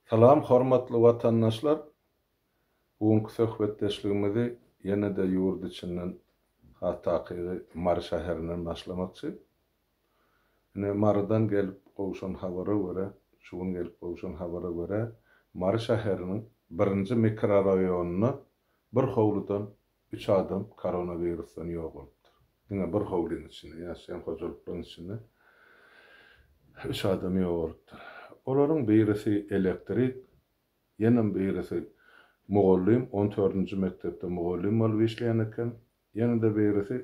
Salam hormatly watandaşlar! Bu günki söhbetdeşligimizi ýene-de ýurt içinden has takygy Mary şäherinden başlamakçy. Ine Marydan gelip gowşan habara görä, şu gün gelip gowşan habara görä, Mary şäheriniň birinji mikroraýonynda bir howludan Üç adam koronawirusdan ýogalypdyr. Diňe bir howlyň içinde ýaşaýan hojalyklaryň içinde üç adam ýogalypdyr. Olaryň birisi elektrik, ýene birisi mugallym, on dördünji mekdepde mugallym bolup işleýän eken, ýene-de birisi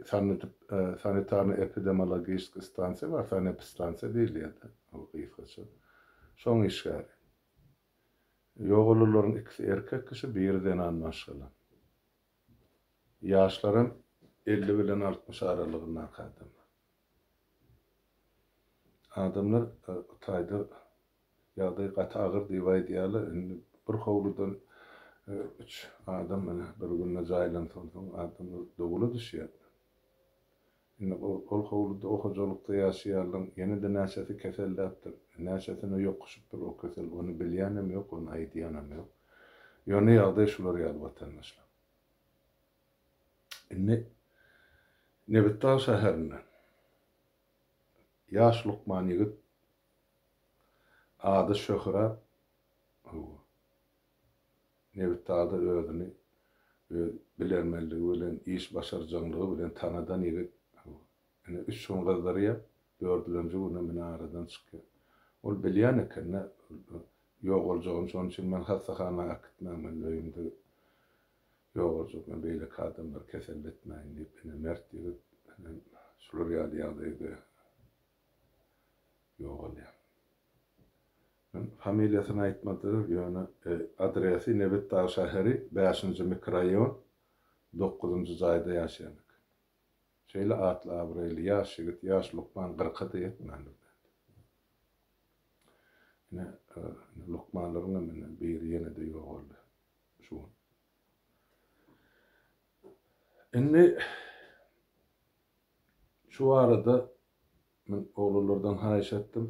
sanitarno-epidemiologistiki stansiýa bar, sanepistansiýa diýilýär-de ol gysgaça, şoň işgäri. Ýogalularyň ikisi erkek kişi, biri zenan maşgala. Ýaşlaram elli bilen altmyş aralygyndaky adamlar. Adamlar taýda ýagdaý gaty agyr diýip aýdýarlar, indi bir howludan üç adam bir günde jaýlansoň soň adamlar dowula düşýär. Indi ol howluda o hojalykda ýaşaýanlaryň ýene-de näçesi keselläpdir, näçesine ýokuşypdyr o kesel, ony bilýänem ýok, ony aýdýanam ýok. Ýöne ýagdaý şular ýaly watandaşlar. Indi Nebitdag şäherinden ýaş lukman ýigit ady Şöhrat Nebitdagda özüni öz bilermenligi bilen, iş başarjaňlygy bilen tanadan ýigit ine üç gün gyzdyrýar, dördülenji günem ine aradan çykýar. Ol bilýän eken-dä, ýogaljagyny, şonuň üçin men hassahana äkitmäň, men öýümde ýogaljak, men beýleki adamlary keselletmäýin diýip, ine mert ýigit ine şular ýaly ýagdaýda ýogalýar. Men familiýasyny aýtmadyr, ýöne adresi Nebitdag şäheri, bäşinji mikroraýon, dokuzynjy jaýda ýaşaýan eken. Şeýle atly-abraýly ýaş ýigit, ýaş lukman gyrka-da ýetmändir däl. Ine, lukmanlaryňam indi biri ýene-de ýogaldy şu gün. Indi şu arada Men oglanlardan haýyş etdim.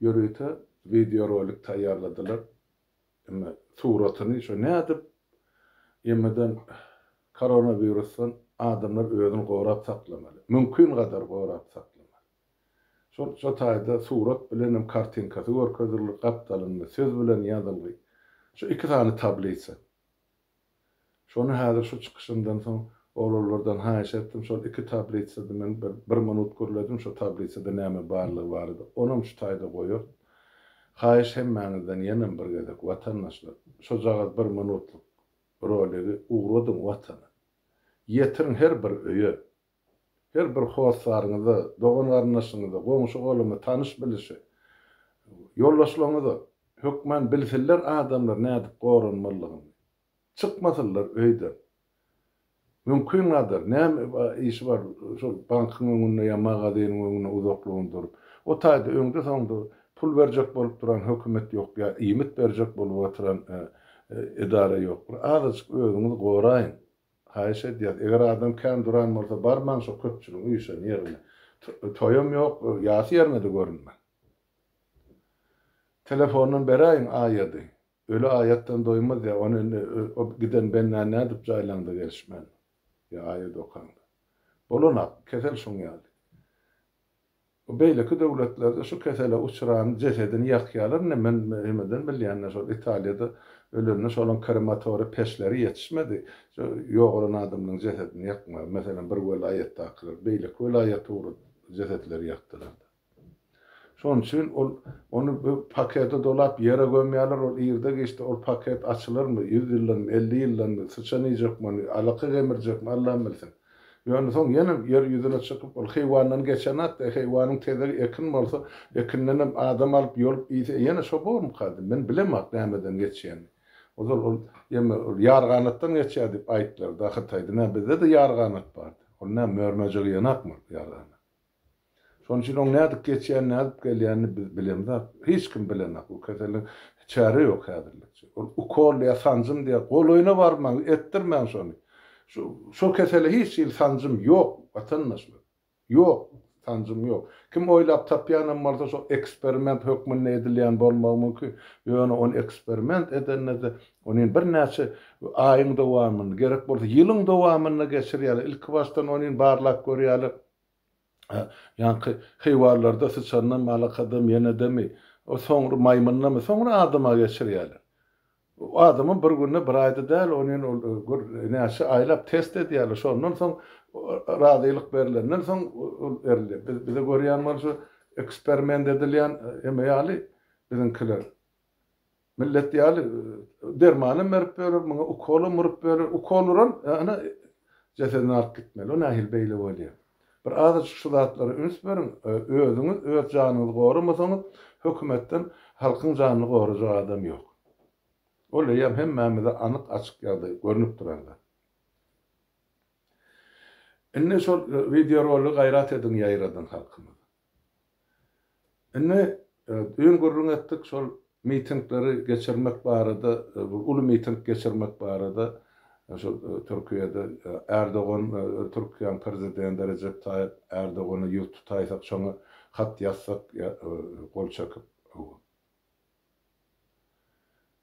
Ýörite wideorolik taýýarladylar. Emma suratyny şo nädip ýemeden koronawirusdan adamlar özüni gorap saklamaly? Mümkin gadar gorap saklamaly. Şol şo taýda surat bilenem kartinkasy görkezildi, gapdalynda söz bilen ýazylgy. Şo iki sany tablisa. Şony häzir şu çykyşyndan soň oglanlardan haýyş etdim, şol iki tablitsady men bir bir minut gürledim, şo tablitsada näme barlygy barada, onam şu taýda goýaryn. Haýyş hemmäňizden ýenem bir gezek, watandaşlar, şojagaz bir minutlyk roligi ugradyň Watana. Ýetiriň her bir öýe, Her bir hossaryňyza, dogan-garyndaşyňyza, goňşy-goluma, tanyş-bilişe, ýoldaşlaryňyza hökman bilsinler adamlar nädip goranmalydygyny. Çykmasynlar öýden. Mümkin gadar, näme işi bar şol bankyň öňünde ýa magazynyň öňünde uzaklygyn durup. O taýda öňde-soňda pul berjek bolup duran hökümet ýok ýa iýmit berjek bolup oturan edara ýok. Bir azajyk özüňizi goraýyň. Haýyş edýäs, eger adam kän duran bolsa barmaň şo köpçüligiň üýşen ýerine. Toýam ýok, ýasy ýerine-de görünmäň. Telefondan beräýiň aýady. Öli aýatdan doýmaz ýa, ony indi o giden bendä nädip jaýlaňda gelişmändir. Ýa aýat okaňda. Bolanok, kesel şoň ýaly. Bu beýleki döwletlerde şu kesele uçranyň jesedini ýakýarlar indi men hemeden bilýänler şol Italiýada ölende şolaň krematoriý peçleri ýetişmedi şu ýogalan adamlaň jesedini ýakmaga meselem bir welaýatdakylar beýleki welaýata ugrady jesetleri ýakdylarda şonuň üçin ol ony bir pakete dolap ýere gömýärler ol irde giçde ol paket açylarmy ýüz ýyldanmy elli ýyldanmy syçan iýjekmi ony alaka gemirjekmi Allam bilsin. Ýöne soň ýene ýer ýüzüne çykyp, ol heýwandan geçen zat-da, heýwanyň tezegi ekin bolsa, ekindenem adam alyp, ýolup iýse, ýene şo bormyka diýdim. Men bilemok nämeden geçýänini. Ozal ol, ýeme, ol ýarganatdan geçýär diýip aýtdylar-da, Hytaýda. Nä, bizde-de ýarganat bardy. Ol näme, mör-möjek iýenokmy ýarganat? Şonuň üçin oň nädip geçýänini, nädip gelýänini biz bilemzok. Hiç kim bilenok. Bu keseliň çäre ýok häzirlikçe. Ol ukol ýa sanjym diýýär. Golaýyna barmaň, etdirmäň şony. Şu, şo kesele hiç hili sanjym ýok, watandaşlar. Ýok, sanjym ýok. Kim oýlap tapýan hem bolsa, şo eksperiment hökmünde edilýän bolmagy mümkin. Ýöne ony eksperiment edende-de, ony birnäçe aýyň dowamynda, gerek bolsa ýylyň dowamynda geçirýärler. Ilkibaşdan ony barlap görýärler. Ýaňky heýwanlarda syçandan malakadam, ýenedemi, soňra maýmyndamy, soňra adama geçirýärler. Adamam bir günde, bir aýda däl, onin ol gör näçe aýlap test edýärler. Şondan soň razylyk berlenden soň ol berilýär. Biz bize görýän bolsa eksperiment edilýän eme ýaly biziňkiler. Millet ýaly dermanam berip berer, muňa ukolam urup berer. Ukol uran, ana, jesedini alyp gitmeli. O nähili beýle bolýar? Bir azajyk şu zatlara üns beriň. Özüňiz öz janyňyzy goramasaňyz, hökümetden halkyň janyny gorajak adam ýok. Ol eýýäm hemmämize anyk-açyk ýagdaý, görnüp duran zat. Indi şol wideorolygy gaýrat ediň ýaýradyň halkymyza. Indi düýn gürrüň etdik şol mitingleri geçirmek barada, bir uly miting geçirmek barada, şol Türkiýede Erdogan, Türkiýäň Prezidenti Rejep Taýyp Erdogana ýüz tutaýsak, şoňa hat ýazsak ýa gol çekip.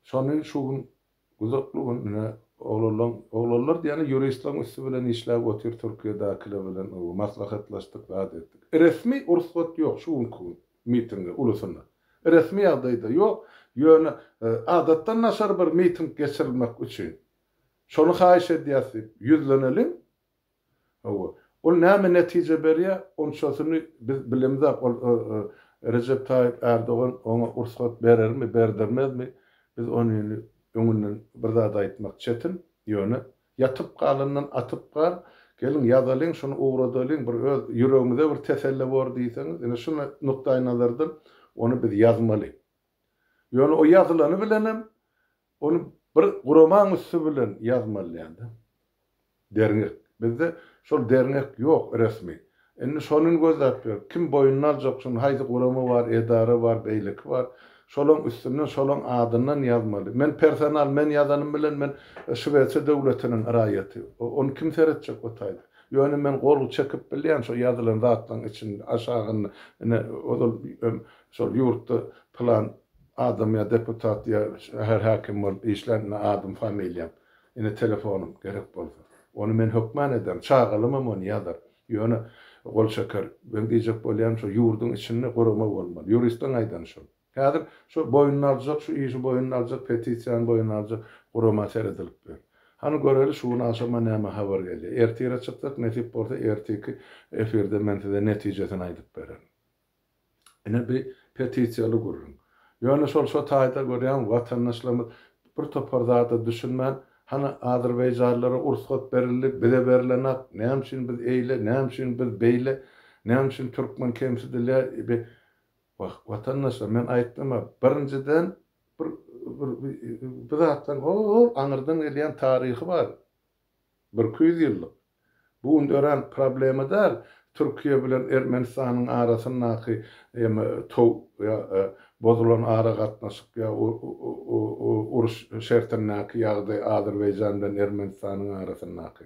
Şony şu gün Güzokly gün ine oglanlaň oglanlar diýýäni ýuristlaň üsti bilen işläp otyr Türkiýedäkiler bilen ow maslahatlaşdyk zat etdik. Resmi rugsat ýok şu günki gün mitinge ulusynda. Resmi ýagdaýda ýok ýöne adatdan naşar bir miting geçirilmek üçin şony haýyş edýäs diýip ýüzleneliň Hawa, ol näme netije berýär, onçasyny biz bilemzok. Ol Rejep Taýyp Ärdogan oňa rugsat berermi, berdirmezmi, biz ony indi öňünden bir zat aýtmak çetin. Ýöne ýatyp galandan atyp gal, geliň ýazalyň, şuny ugradalyň, bir öz ýüregimize bir teselli bor diýseňiz, ine şu nukdaýnazardan ony biz ýazmaly. Ýöne o ýazylany bilenem Ony bir guramaň üsti bilen ýazmaly diýende. Derňek. Bizde şol derňek ýok resmi. Indi şonyny gözläp ýör. Kim boýnuna aljak şony, haýsy gurama bar, edara bar, beýleki bar. Şolaň üstünden, şolaň adyndan ýazmaly. Men personal, men ýazanym bilen men Şwesiýa döwletiniň raýaty. Ony kim seretjek o taýda? Ýöne men gol çekip bilýän şo ýazylan zatlaň içinde, aşagynda. Ine, ozal hem şol ýurtda pylan Adam ýa deputat ýa şäher häkim bolup işlän ine adyň familiýaň ine telefonyň gerek bolsa ony men hökman ederin çagalamam ony ýazar ýöne gol çeker meň diýjek bolýanym şo ýurduň içinde gurama bolmaly ýuristiň aýdany şol häzir şo boýnuna aljak şu işi boýnuna aljak petisiýany boýnuna aljak gurama seredilip ýör hany göreli şu gün agşama näme habar gelýär ertire çykjak nesip bolsa ertiki efirde men size netijesini aýdyp bererin. Ine bi petisiýaly gürrüň. Ýöne şol şo taýda görýän watandaşlarymyz bir topar zada düşünmän, hany azerbaýjanlara ursgat berildi, bize berilenak, näme üçin biz eýle, näme üçin biz beýle, näme üçin türkmen kemsidilýär, bi wah watandaşlar men aýtdym-a birinjiden bir bir zatlaryň hol aňyrdan gelýän taryhy bar. Birki ýüz ýyllyk. Bu gün dörän problema däl, Türkiýe bilen Ermenistanyň arasyndaky eme tow ýa bozulan aragatnaşyk ýa uruş şertindäki ýagdaý Azerbaýjan bilen Ermenistanyň arasyndaky.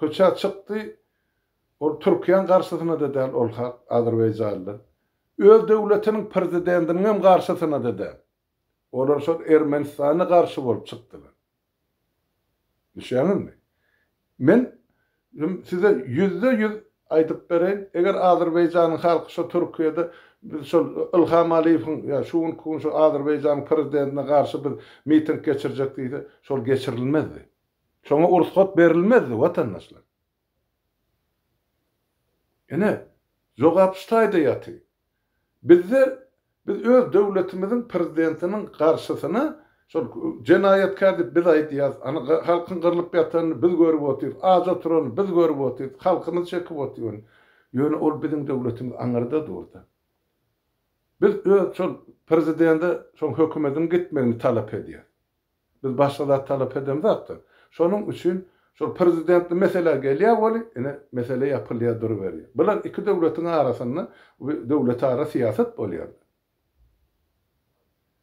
Köçä çykdy, ol Türkiýäň garşysyna-da däl, ol hak, azerbaýjanly. Öz döwletiniň prezidentiniňem garşysyna-da däl. Olar şol Ermenistana garşy bolup çykdylar. Düşýäňizmi? Men size ýüzde-ýüz aýdyp bereýin, eger Azerbaýjanyň halky şo Türkiýede biz şol Ylham Aliýewiň ýa şu günki gün şu Azerbaýjanyň prezidentine garşy biz miting geçirjek diýse, şol geçirilmezdi. Şoňa ursgat berilmezdi, watandaşlar. Ine, jogap şu taýda ýaty. Bizde biz öz döwletimiziň prezidentiniň garşysyna şol jenaýatkär diýip biz aýdýarys, ana halkyň gyrlyp ýatanyny biz görüp otyrys, aç oturany biz görüp otyrys, halkymyz çekip otyr. Ýöne ol biziň döwletimiz aňyrda dur-da. Biz öz şol prezidende şoň hökümediň gitmegini talap edýäs. Biz başga zat talap edemzakda. Şonuň üçin şol prezidentli meselä gelýär weli, ine, mesele ýapylýar duruberýär. Bular iki döwletiň arasynda we döwletara syýasat bolýar.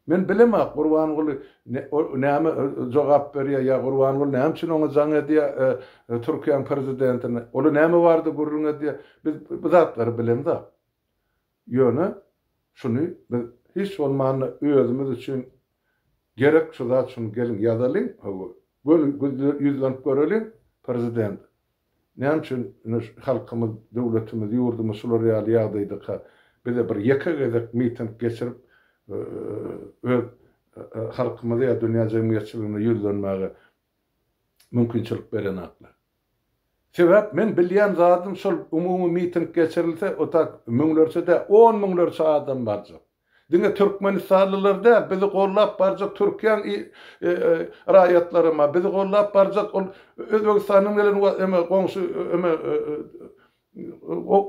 Men bilemok, Gurbanguly näme jogap berýär ýa Gurbanguly näme üçin oňa jaň edýär Türkiýäň prezidentine. Ola näme barada gürrüň edýär. Biz bu zatlary bilemzok. Ýöne şuny biz hiç bolmanda özümiz üçin gerek şu zat şuny geliň ýazalyň hawa göni ýüzlenip göreliň prezident näme üçin ine şu halkymyz döwletimiz ýurdumyz şular ýaly ýagdaýdaka bize bir ýeke gezek miting geçirip öz halkymyza ýa dünýä jemgyýetçiligine ýüzlenmäge mümkinçilik berenaklar. Sebäp men bilýän zadym şol umumy miting geçirilse otak müňlerçe däl on müňlerçe adam barjak. Diňe türkmenistanlylar däl bizi gollap barjak türkiýäň raýatlaryma bizi gollap barjak ol özbegistandan gelen eme goňşy eme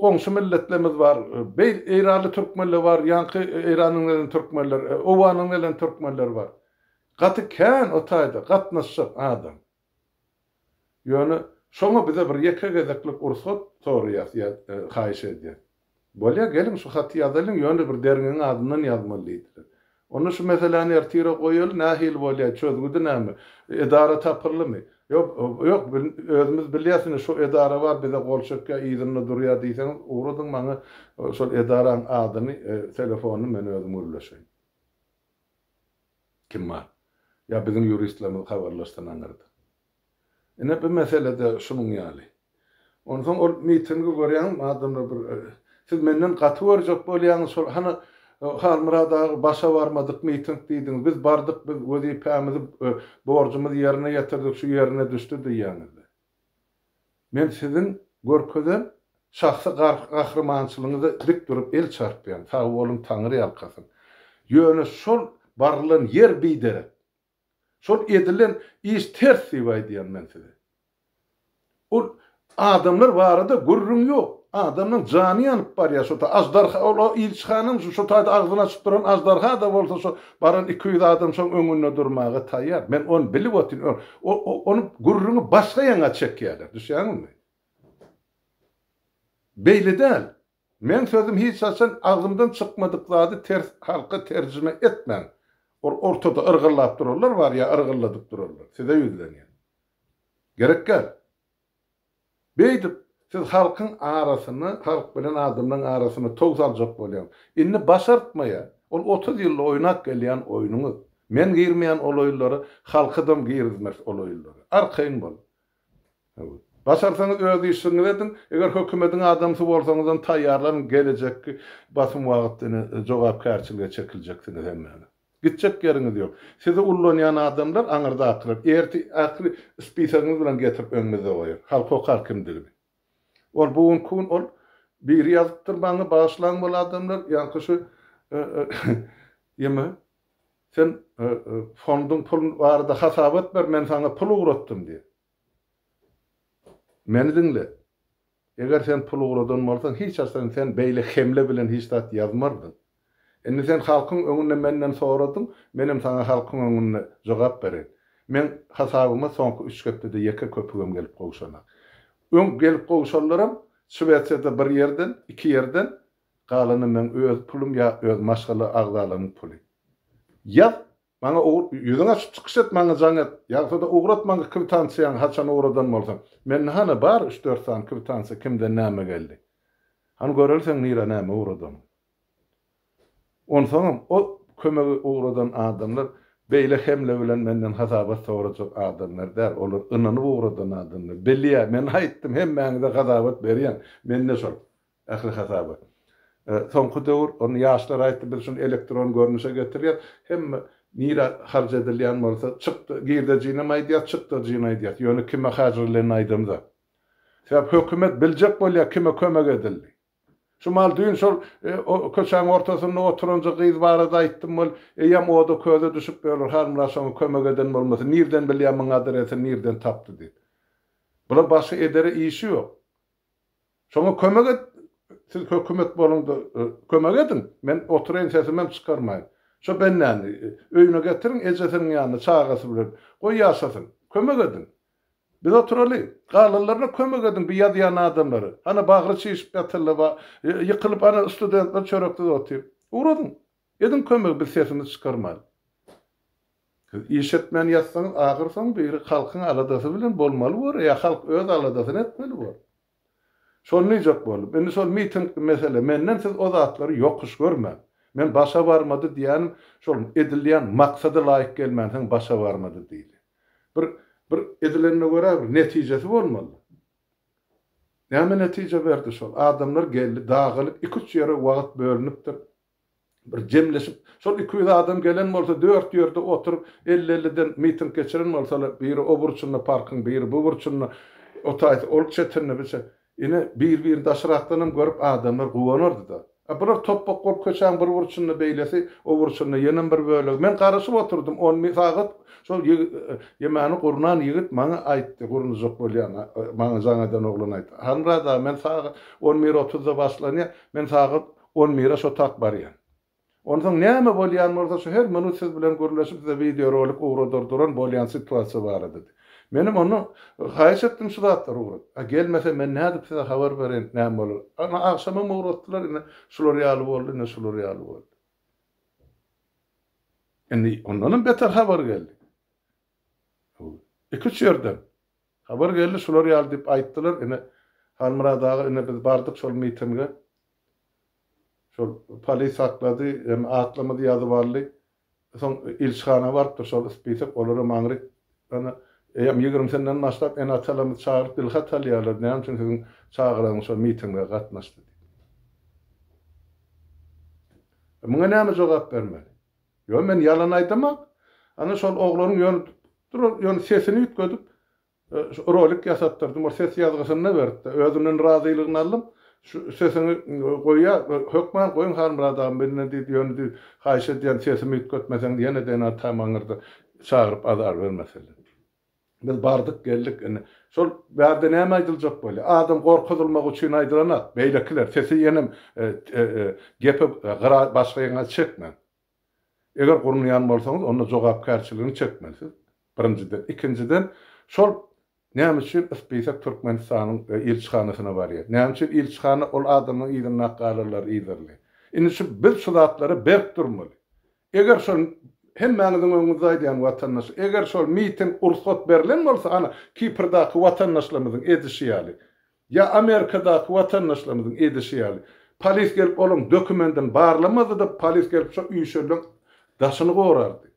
goňşy milletlerimiz bar beýl eýranly türkmenler bar ýaňky eýrandan gelen türkmenler owandan gelen türkmenler bar. Gaty kän o taýda gatnaşjak adam. Ýöne şoňa bize bir ýeke gezeklik ursat soraýas ýa haýyş edýäs. Bolýa geliň şu haty ýazalyň ýöne bir derňeň adyndan ýazmaly diýdiler. Onda şu meseläni ertire goýaly nähili bolýa çözgüdi näme edara tapyldymy. Ýok ýok özümiz bilýäs indi şu edara bar bize gol çekýa yzynda durýa diýseňiz ugradyň maňa şol edaraň adyny telefonyny men özüm gürleşeýin. Kim bar? Ýa biziň ýuristlerimiz habarlaşsa naňyrdy. Ine bu mesele-de şunuň ýaly. Onsoň ol mitingi görýäňizmi, adamlar bir Siz menden gaty görjek bolýaňyz şol, hany Halmyrat aga başa barmadyk miting diýdiňiz, biz bardyk, biz wezipämizi, borjumyzy ýerine ýetirdik, şu ýerine düşdi diýýäňizdi. Men siziň görkezen şahsy gahrymançylygyňyza dik durup el çarpýan, sag boluň Taňry ýalkasyn. Ýöne şol barylan ýer biderek. Şol edilen iş ters diýip aýdýan men size. Ol adamlar barada gürrüň ýok. Adamlaň jany ýanyp barýar şo ta ajdarha ol ilçihanam şo taýda agzyny açyp duran ajdarha-da bolsa şo Baran iki ýüz adam şoň öňünde durmaga taýýar. Men ony bilip otyryn. Ol, o, ony gürrüňi başga ýaňa çekýärler. Düşýäňizmi? Beýle däl. Meň sözüm hiç haçan agzymdan çykmadyk zady ters halka terjime etmäň. Ol ortada yrgyllap durarlar bar ýa yrgylladyp durarlar. Size ýüzlenýän. Gerek däl. Beýdip, siz halkyň arasyny, halk bilen adamlaryň arasyny tow saljak bolýaň. Indi başartmaýa, ol otuz ýylda oýnap gelýän oýnuňyz. Men girmeýän ol oýunlara, halkydam girizmez ol oýunlara. Arkaýyn bol. Başarsaňyz öz işiňizi ediň, eger hökümediň adamsy bolsaňyzam taýýarlanyň, gelejekki basym wagtynda jogapkärçilige çekiljeksiňiz hemmäňiz. Gitjek ýeriňiz ýok. Sizi ullanýan adamlar aňyrdakylar. Erti ähli spisagyňyzy bilen getirip öňüňizde goýar. Halk okar kimdigini. Ol bu günki gün ol biri ýazypdyr maňa bagyşlaň bol adamlar ýaňky şu ýymy sen fonduň pul barada hasabat ber men saňa pul ugratdym diýip. Meni diňle. Eger sen pul ugradan bolsaň, hiç haçan sen beýle hemle bilen hiç zat ýazmardyň. Indi sen halkyň öňünde menden soradyň, menem saňa halkyň öňünde jogap bereýin. Meň hasabyma soňky üç hepdede ýeke köpügem gelip gowşanak. Öň gelip gowşanlaram Şwesiýada bir ýerden, iki ýerden, galany meň öz pulum ýa öz maşgala agzalarynyň puly. Ýaz, Maňa ýüzüňi açyp çykyş et, maňa jaň et. Ýagsa-da ugrat maňa kwitansiýaňy haçan ugradan bolsaň. Mende hany bar üç-dört sany kwitansiýa kimden näme geldi. Hany göreli seň nirä näme ugradanyňy. Onsoňam o kömegi ugradan adamlar beýle hemle bilen menden hasabat sorajak adamlar däl. Olar ynanyp ugradan adamlar. Bilýä, men aýtdym hemmäňize hasabat berýän. Mende şol. Ähli hasaby. Soňky döwür, ony ýaşlar aýtdy, biz şuny elektron görnüşe getirýäs. Hemme nirä harç edilýän bolsa, çykda, girdejinem aýdýas, çykdajyny aýdýas. Ýöne kime hajyrylanyny aýdamzok. Sebäp hökümet biljek bolýar kime kömek edildi. Şu maal düýn şol köçäň ortasynda oturanja gyz barada aýtdym, ol eýýäm oda köze düşüp ýörler, Halmyrat şoňa kömek eden bolmasyn, nirden bilýär muň adresini nirden tapdy diýip. Bular başga edere işi ýok. Şoňa kömek et, siz hökümet boluňda kömek ediň, men oturaýyn sesimem çykarmaýyn. Şo bendäni öýüne getiriň, ejesiniň ýanyna çagasy bilen goý ýaşasyn. Kömek ediň. Biz oturaly. Galanlaryna kömek ediň bu ýazýan adamlary. Hany bagry çişip ýatyrlar, ýykylyp hany studentler çöreksiz otyr. Ugradyň. Ediň kömegi biz sesimizi çykarmaly. Siz iş etmän ýatsaňyz ahyr soň biri halkyň aladasy bilen bolmaly bor ýa halk öz aladasyny etmeli bor. Şony diýjek boldum. Indi şol mitingli mesele menden siz o zatlary ýokuş görmäň. Men başa barmady diýýänim şol edilýän maksada laýyk gelmänsoň başa barmady diýli. Bir bir edilenine görä bir netijesi bolmaly. Näme netije berdi şol adamlar geldi dagalyk iki üç ýere wagt bölünipdir. Bir jemleşip, şol iki ýüz adam gelen bolsa, dört ýerde oturyp, elli-elliden miting geçiren bolsalar, biri o burçunda parkyň, biri bu burçunda, o taýsa ol çetinde, bu çe. Ine, bir-birini daşrakdanam görüp, adamlar guwanardy-da. A bular topbak bolup, köçäň bir burçunda beýlesi, o burçunda ýenem bir bölegi. Men garaşyp oturdym, on bir sagat şol ýe, ýemany gurnan ýigit maňa aýtdy, gurnajak bolýan, maňa jaň eden oglan aýtdy. Hanra dagy, men sagat on bir otuzda başlanýar, men sagat On bire şo tak barýan. Onsoň näme bolýan bolsa şu her minut siz bilen gürleşip size wideo rolik ugradyr duran bolýan situasiýa barada. Menem onda haýyş etdim şu zatlar ugrat. A gelmese men nädip size habar bereýin näme bolar. Ana agşamam ugratdylar ine şular ýaly boldy ine şular ýaly boldy. Indi ondanam beter habar geldi. Iki üç ýerden. Habar geldi şular ýaly diýip aýtdylar ine Halmyrat aga ine biz bardyk şol mitinge. Şol polis saklady, hem atlarymyzy ýazyp aldy. Soň ilçihana barypdyr şol spisak, olaram aňryk. Ýöne eýýäm ýigrimisinden başlap ene-atalarymyzy çagyryp dilhat alýarlar, näme üçin siziň çagalaryňyz şol mitinge gatnaşdy diýip. Muňa näme jogap bermeli? Ýöne men ýalan aýdamok. Ana şol oglaryň ýöne sesini üýtgedip, Şu rolik ýasatdyrdym, ol ses ýazgysyny-da beripdi. Özünden razylygyny aldym. Şu sesiňi goýa, hökman goýuň Halmyrat agam biline diýdi. Ýöne diýdi, haýyş edýän sesimi üýtgetmeseň ýene-de ýene-de tamaňyrda çagyryp azar bermeseler. Biz bardyk, geldik. Indi şol bärde näme aýdyljak bolýar? Adam gorkuzylmak üçin aýdylanok. Beýlekiler, sesi ýenem gepi gyra başga ýeriňe çekmäň. Eger gurnaýan bolsaňyz, onda jogapkärçiligini çekmeli siz, birinjiden. Ikinjiden, şol näme üçin ispisek Türkmenistanyň ilçihanasyna barýar? Näme üçin ilçihana ol adamlaryň yzynda ak galarlar yzarly? Indi şu biz şu zatlara berk durmaly. Eger şol, hemmäňiziň öňüňizde aýdýan watandaş, eger şol miting ursat berlen bolsa, ana, Kiprdaky watandaşlarymyzyň edişi ýaly, Ýa Amerikadaky watandaşlarymyzyň edişi ýaly, polis gelip olaryň dokumendini barlamazdy-da, polis gelip şo üýşeliň daşyny gorardy.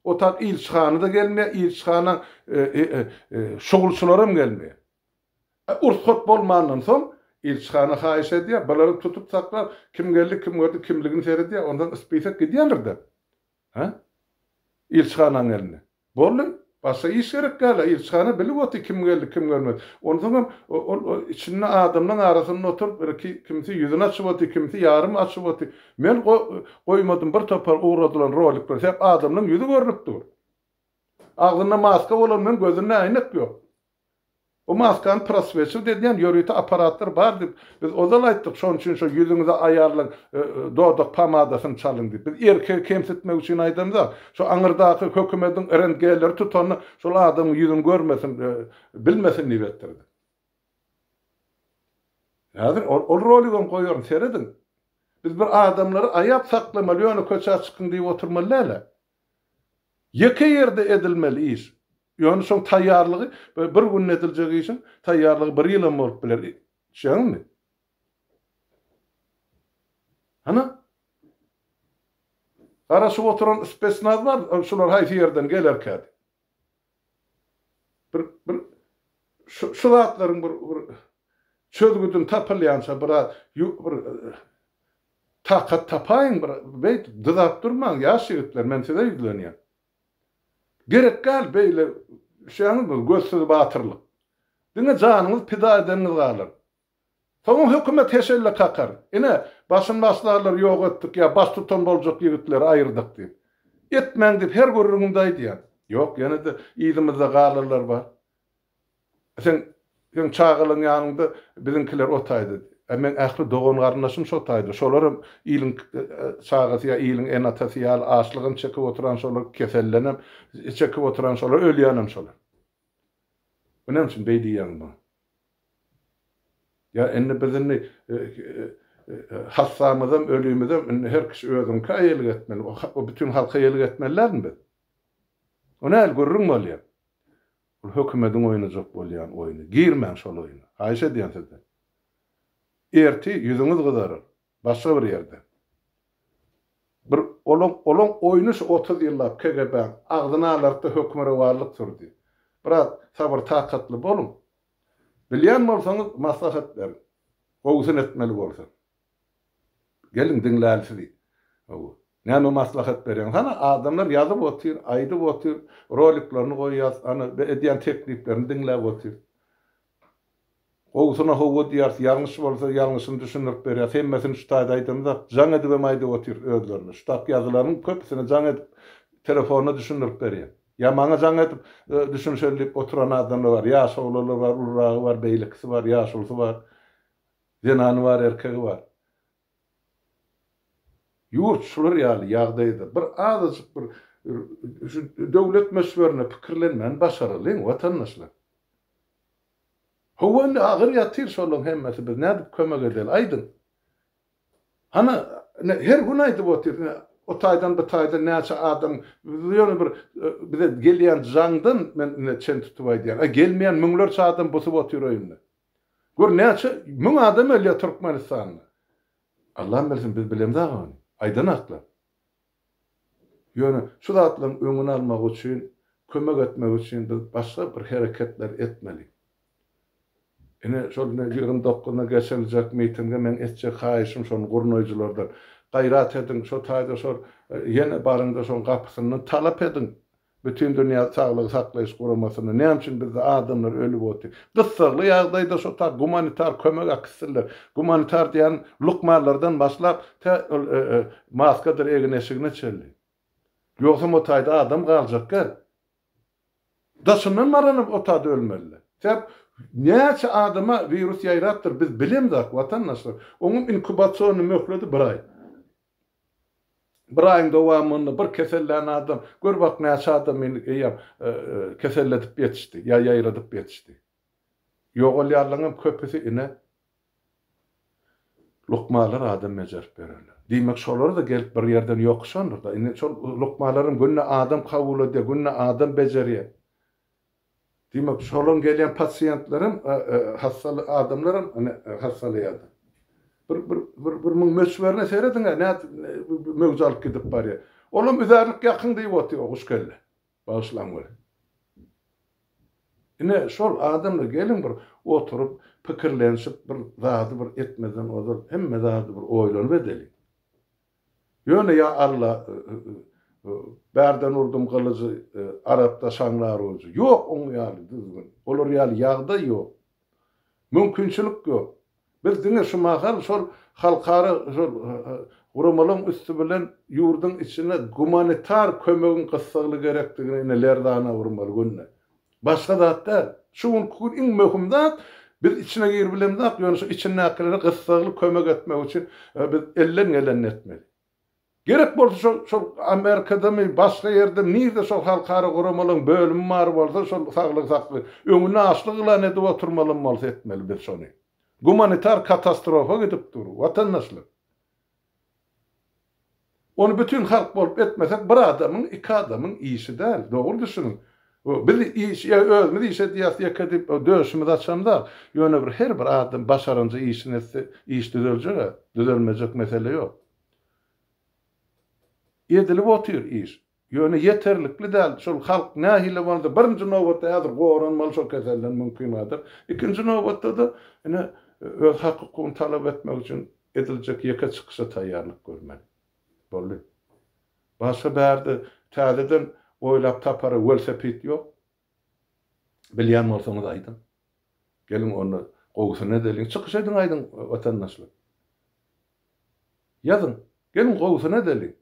Otak ilçihana-da gelmeýär, ilçihana şugulçylaram gelmeýär. E, urs-hot bolmandan soň, ilçihana haýyş edýär, bulary tutup saklap, kim geldi, kim gördi, kimligini seredýär, onsoň spisok gidýändir-de. Hä? Ilçihanaň gelni. Boldy. Başga iş gerek däl-ä. Ilçihana bilip otyr, kim geldi, kim görmedi. Onsoňam, ol içinde adamlaň arasynda oturyp, birki, kimsi ýüzüni açyp otyr, kimsi ýarym açyp otyr. Men goýmadym, bir topar ugradylan rolikler, sebäp adamlaň ýüzi görnüp dur. Agzynda maska bolan bilen gözünde äýnek ýok. Bu maskany proswetçilik edýän ýörite apparatlar bar diýip, biz ozal aýtdyk, şonuň üçin şo ýüzüňize aýarlaň, dodak pomadasyny çalyň diýip. Biz erkegi kemsitmek üçin aýdamzok. Şo aňyrdaky hökümediň RNG-leri tutanda şol adamyň ýüzüni görmesin, bilmesin diýip etdirdik. Häzir ol roligem goýaryn, serediň. Biz bir adamlary aýap saklamaly, ýöne köçä çykyň diýip oturmaly däl-ä. Ýeke ýerde edilmeli iş. Ýöne şoň taýýarlygy bir günde ediljek işiň taýýarlygy bir ýyl hem bolup biler. Şeýdäňmi? Hany? Garaşyp oturan spesnaz bar, şular haýsy ýerden gelerkädi? Bir bir şu şu zatlaryň bir bir çözgüdini tapylýança biraz bir takat tapaýyň bir beýdip dyzap durmaň ýaş ýigitler men size ýüzlenýän. Gerek däl beýle düşýäňizmi gözsüz batyrlyk. Diňe janyňyz pida edeniňiz galar. Soň hökümet heşelle kakar. Ine, başymbaşdarlary ýok etdik ýa baştutan boljak ýigitleri aýyrdyk diýip. Etmäň diýip her gürrüňimde aýdýan. Ýok, ýene-de yzymyzda galarlar bar. Seň, seň çagalaň ýanyňda biziňkiler otaýdy. Ä meň ähli dogan-garyndaşym şo taýda. Şolar hem iliň çagasy ýa iliň ene-atasy ýaly açlygam çekip oturan şolar, kesellenem çekip oturan şolar, ölýänem şolar. Bu näme üçin beý diýýäň bu? Ýa indi biz indi hassamyzam, ölimizem indi her kişi özüňkä eýelik etmeli, o bütin halka eýelik etmelilermi biz? O näl gürrüň bolýar? Ol hökümediň oýnajak bolýan oýny. Girmäň şol oýna. Haýyş edýän sizden. Erti ýüzüňiz gyzarar. Başga bir ýerde bir olaň olaň oýny şu otuz ýyllap KGB-niň agzyny alartdy, höküme rowalyk sürdi. Biraz sabyr-takatly boluň. Bilýän bolsaňyz maslahat beriň. Gowusyny etmeli bolsa. Geliň diňläli sizi. Hawa. Näme maslahat berýäňiz? Hana adamlar ýazyp otyr, aýdyp otyr, roliklerini goýýas, ana edýän tekliplerini diňläp otyr. Gowusyna howwa diýýäris, ýalňyş bolsa ýalňyşyny düşündirip berýäris. Hemmesini şu taýda aýdamyzak, jaň edibem aýdyp otyrys özlerine. Şu taýky ýazylaryň köpüsini jaň edip, telefonda düşündirip berýän. Ýa maňa jaň edip, düşünişeli diýip oturan adamlar bar. Ýaş oglanlar bar, uluragy bar, beýlekisi bar, ýaşulysy bar. Zenany bar, erkegi bar. Ýurt şular ýaly ýagdaýda bir azajyk bir şu döwlet möçberine pikirlenmäni başaralyň watandaşlar. Hawa indi agyr ýatyr şolaň hemmesi biz nädip kömek edeli aýdyň. Hany ine her gün aýdyp otyr ine o taýdan bu taýdan näçe adam biz ýöne bir bize gelýän jaňdan men ine çen tutup aýdýan a gelmeýän müňlerçe adam busup otyr öýünde. Gör näçe müň adam ölýär Türkmenistanda. Allam bilsin biz bilemiz aga ony. Aýdan haklar. Ýöne şu zatlaryň öňüni almak üçin, kömek etmek üçin biz başga bir hereketler etmeli. Ine şol ine ýigrimi dokuzyna geçiriljek mitinge meň etjek haýyşym şony gurnaýjylardan. Gaýrat ediň şu taýda şol ýene baryňda şoň gapysyndan talap ediň. Bütindünýä Saglygy Saklaýyş Guramasynda näme üçin bizde adamlar ölüp otdy? Gyssagly ýagdaýda şo ta gumanitar kömegi äkitsinler. Gumanitar diýýän lukmanlardan başlap tä ol maskadyr egin-eşigine çenli. Ýogsam o taýda adam galjak gel. Daşyndan maranyp o taýda ölmeliler. Sebäp näçe adama wirus ýaýrapdyr biz bilemzok watandaşlar. Onuň inkubasiony möhledi bir aý. Bir aýyň dowamynda bir kesellän adam, gör bak näçe adam indi eýýäm keselledip ýetişdi, ýa ýaýradyp ýetişdi. Ýogalýarlaryňam köpüsi ine lukmalar adam bejerip bererler. Diýmek şolar-da gelip bir ýerden ýokuşandyr-da. Indi şol lukmalaram günde adam kabul edýär, günde adam bejerýär. Diýmek, şolan gelýän pasiýentlerem, hassaly adamlaram ine hassalaýardy. Bir bir bir bir muň möçberine serediň-ä nädip möwje alyp gidip barýar. Olam üzärlik ýakyň diýip otyr o guş kelle. Bagyşlaň weli. Ine şol adamlar geliň bir oturyp pikirlenişip bir zady bir etmezden ozal hemme zady bir oýlanyp edeliň. Ýöne ýa Alla, bärden urdum gylyjy, arapda şaňlar ujy. Ýok oň ýaly düzgün. Olar ýaly ýagdaý ýok. Mümkinçilik ýok. Biz diňe şu mahal şol halkara şol guramalaryň üsti bilen ýurduň içine gumanitar kömegiň gyssagly gerekdigine ine lerzana urmaly günde. Başga zat däl. Şu günki gün iň möhüm zat, biz içine girip bilemzok, ýöne şu içindäkilere gyssagly kömek etmek üçin biz elden gelenini etmeli. Gerek bolsa şol şol Amerikadamy, başga ýerdemi, nirde şol halkara guramalaryň bölümi bar bolsa, şol saglygy saklaýan, öňüni açlyk yglan edip oturmalam bolsa etmeli biz şony. Gumanitar katastrofa gidip dur, watandaşlar. Ony bütin halk bolup etmesek bir adamyň iki adamyň işi däl dogry düşüniň biz iş ýa özümiz iş edýäs ýeke diýip döşümizi açamzak ýöne bir her bir adam başaranja işini etse iş düzeljega düzelmejek mesele ýok edilip otyr iş. Ýöne ýeterlikli däl. Şol halk nähili bolsa, birinji nobatda häzir goranmaly şol keselden mümkingadyr. Ikinji nobatda-da ine, öz hak-hukugyny talap etmek üçin ediljek ýeke çykyşa taýýarlyk görmeli. Boldy. Başga bärde täzeden oýlap tapara welsepit ýok. Bilýän bolsaňyz aýdyň. Geliň onda gowusyny edeliň. Çykyş ediň aýdyň watandaşlar. Ýazyň. Geliň gowusyny edeliň.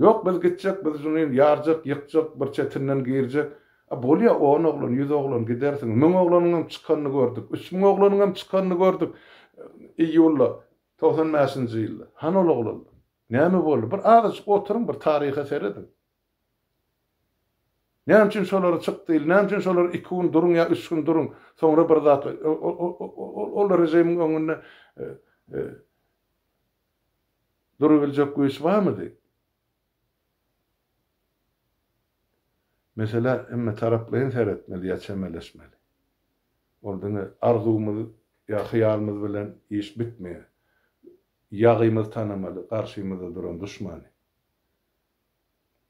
Ýok, biz gitjek, biz junin ýarjak, ýykjak, bir çetinden girjek. A bolýa, on oglan, ýüz oglan, gidersiň. Müň oglanyňam çykanyny gördük. Üç müň oglanyňam çykanyny gördük iýulda, togsan bäşinji ýylda. Hany ol oglanlar? Näme boldy? Bir azajyk oturyň, bir taryha serediň. Näme üçin şolary çyk diýildi? Näme üçin şolar iki gün duruň ýa üç gün duruň, soňra bir zat, ol režimiň öňünde Durabiljek güýç barmydy? Meselä hemmetaraplaýyn seretmeli ýa çemeleşmeli. Ol diňe arzuwymyz ýa hyýalymyz bilen iş bitmeýär. Ýagymyzy tanamaly, garşymyzda duran duşmany.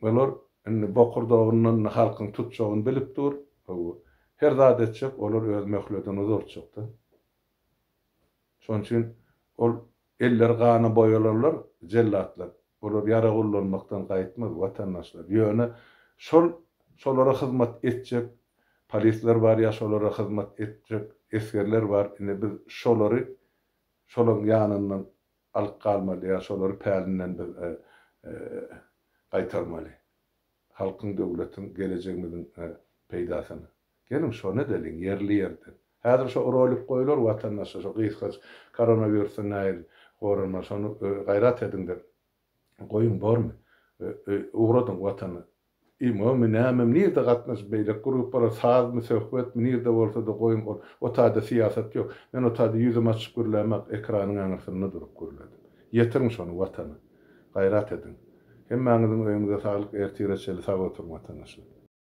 Olar indi bokurdagyndan indi halkyň tutjagyny bilip dur. Hawa, her zat etjek, olar öz möhledini uzaltjak-da. Şonuň üçin ol elleri gana boýalanlar, jellatlar. Olar ýarag ullanmakdan gaýtmaz, watandaşlar. Ýöne şol şolara hyzmat etjek polisler bar ýa şolara hyzmat etjek esgerler bar. Indi biz şolary şolaň ýanyndan alyp galmaly ýa şolary pälinden biz gaýtarmaly. Halkyň döwletiň gelejegimiziň peýdasyna. Geliň şony edeliň ýerli ýerden. Häzir şo rolik goýular watandaşa şo gysgaç koronawirusdan nähili goranmaly şony gaýrat ediňde goýuň bormy. Ugradyň watana. Imomy nämemi nirde gatnaşyp beýleki gruppalar sazmy söhbetmi nirde bolsada goýuň ol o taýda syýasat ýok. Men o taýda ýüzüm açyk gürlämek ekranyň aňyrsynda durup gürledim. Ýetiriň şony watana. Gaýrat ediň. Hemmäňiziň öýüňize saglyk ertire çenli sag oturyň watanaşlar.